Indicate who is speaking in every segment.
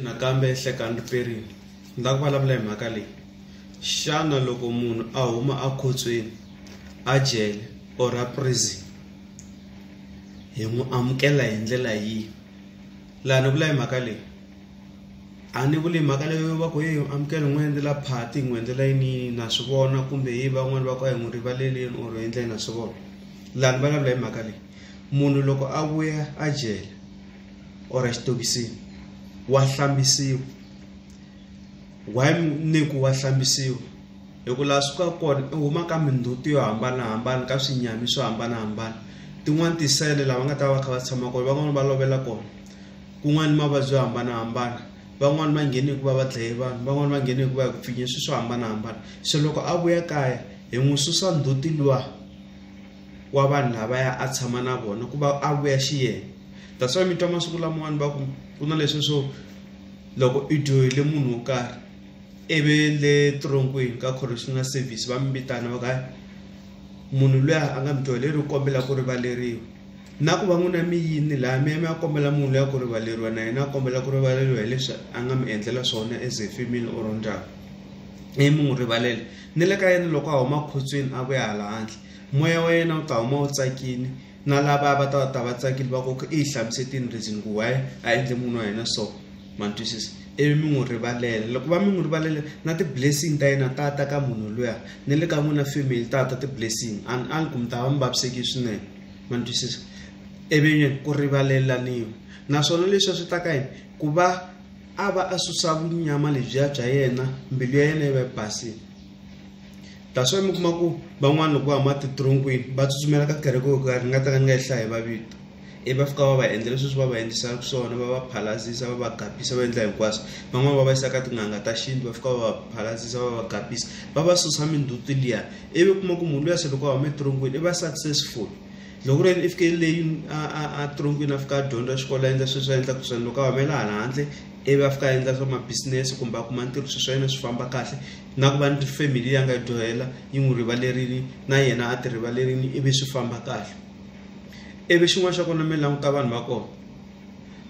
Speaker 1: nakambe hlekani riperini ni lava ku vulavula hi mhaka leyi xana loko munhu a huma ekhotsweni a jele or a prison hi n'wi amukela hi ndlela yihi laha ni vula hi mhaka leyi a ni vuli mhaka leyo va ku yi amukela n'wi endlela phati n'wi endlela yini na swi vona kumbe hi van'wani va ku a hi n'wi rivaleleni or endleni na swi vona laha ni vulavula hi mhaka leyi munhu loko a vuya a jele or xitokisini wa hlambisiwa why ni ku wa hlambisiwa hi ku laha swi ka kona i huma ka mindzhuti yo hambanahambana ka swinyami swo hambanahambana tin'wani tisele lava nga ta va kha va tshama kona van'wani va lovela kona kun'wani mavabyi yo hambanahambana van'wani va nghene hi ku va va dlaye vanhu van'wani va nghene hi ku va hi ku pfinye swi swo hambanahambana se loko a vuya kaya hi n'wi susa ndzhuti luwa. wa vanhu lavaya a tshama na vona ku va a vuya xi yena that's why mi twa masiku lamawani va ku ku na leswi swo loko i dyohile munhu wo karhi ivi le tironkweni ka correctional service va mi vitana va ka munhu luya a nga mi dyohile ri kombela ku rivaleriwa na ku va n'wina mi yini laha mi ya mi ya kombela munhu luya ku rivaleriwa na yena a kombela ku rivaleriwa hileswi a nga mi endlela swona as a family or ndyangu ivi mi n'wi rivalela ni le ka yena loko a huma khotsweni a vuya hala handle Moya wa yena wu ta huma wu tsakile na lava va ta va ta va tsakile va koka i hlamusetini reason ku why a endle munhu wa yena so ma twisisa ivi mi n'wi rivalela loko va mi n'wi rivalela na ti-blessing ta yena ta ta ka munhu luya na le ka n'wina family ta ta ti-blessing and a ni ku mi ta va mi vaviseki swinene ma twisisa ivi ku rivalelaniwa naswona leswi a swi ta ka yini ku va a va a susa vunyama lebyiya bya yena mbilu ya yena yi va yi basile that's why mi kuma ku van'wana loko va huma titronkwini va tsutsumela ka kereke yo karhi ni nga ta ka ni nga yi hlayi va vito i va fika va va endla leswi swi va va endlisaka swona va va phalazisa va va gapisa va endla hinkwaswo van'wana va va yisa ka tin'anga ta xintu va fika va va phalazisa va va gapisa va va susa minduti liya ivi kuma ku munhu luya se loko a huma etronkwini i va successful loko ri i fike leyi a tronkwini a fika a dyondza xikolo a endla sweswi a endlaka swona loko a humela hala handle ivi a fika a endla swa mabisinesi kumbe a kuma ntirho sweswi swa yena swi famba kahle na ku va ni tifemili leyi a nga yi dyohela yi n'wi rivalerile na yena a ti rivalerile ivi swi famba kahle ivi xin'wana xa kona mi languta vanhu va kona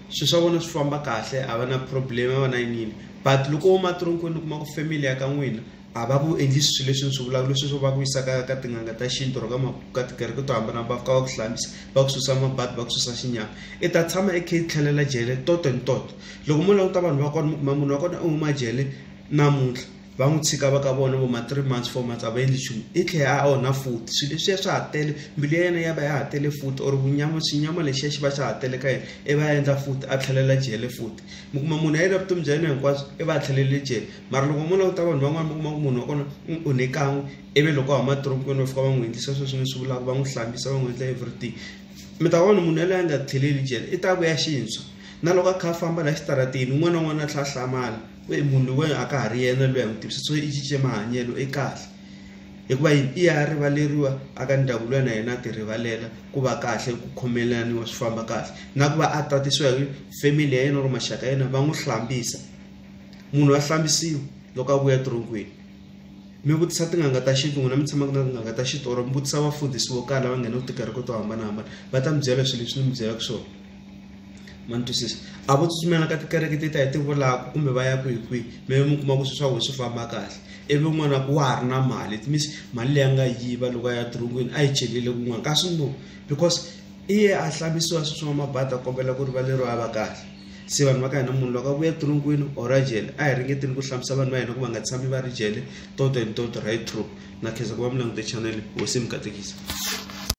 Speaker 1: swilo swa vona swi famba kahle a va na problem a va na yinini but loko wo matironkweni u kuma ku family ya ka n'wina a va ku endli swilo leswi ni swi vulaka leswi swo va ku yisaka ka tin'anga ta xintu or ka ka tikereke to hambana va fika va ku hlambisa va ku susa mabadi va ku susa xinyama i ta tshama i khe i tlhelela jele toto ni toto loko mo languta vanhu va kona mi kuma munhu wa kona u huma jele namuntlha va n'wi tshika va ka vona vo ma three months four months a va endli nchumu i tlhela a onha futhi swilo leswiya swa ha tele mbilu ya yena ya va ya ha tele futhi or vunyama xinyama lexiya xi va xa ha tele ka yena i va ya endla futhi a tlhelela jele futhi mi kuma munhu a yile vutomi bya yena hinkwabyo i va a tlhelele jele mara loko mo languta vanhu van'wani mi kuma ku munhu wa kona u onhe kan'we ivi loko a huma dorobeni va fika va n'wi endlisa sweswi ni swi vulaka va n'wi hlambisa va n'wi endla everything mi ta vona munhu yaloye a nga tlheleli jele i ta vuya xintshwa na loko a kha a famba laha xitarateni un'wana na un'wana a tlha a hlamala ku i munhu loyi a ka ha ri yena loyi a n'wi tivisa so i cince mahanyelo i kahle hikuva yini i ya rivaleriwa a ka ndyangu loyi na yena a ti rivalela ku va kahle ku khomelaniwa swi famba kahle na ku va a tatisiwa hi family ya yena or maxaka ya yena va n'wi hlambisa munhu wa hlambisiwa loko a vuya tirhongweni mi vutisa tin'anga ta xintu n'wina mi tshamaka na tin'anga ta xintu or mi vutisa vafundhisi vo karhi lava nghena ku tikereke to hambanahambana va ta mi byela swilo leswi ni mi byelaka swona ma ni twisisa a vo tsutsumela ka tikereke ti ta hi ti vulaka kumbe va ya kwihi kwihi mi mi kuma ku swi swa vona swi famba kahle ivi n'wana ku wa ha ri na mali it means mali leyi a nga yiva loko a ya dirongweni a yi celile kun'wana kasi no because i ye a hlamisiwa swi swa mabadi a kombela ku rivaleriwa a va kahle se vanhu va ka hina munhu loko a vuya dirongweni or a jele a hi ringeteni ku hlamisa vanhu va hina ku va nga tshami va ri jele toto and toto right true na khensa ku va mi langute chanele hosi yi mi katekisa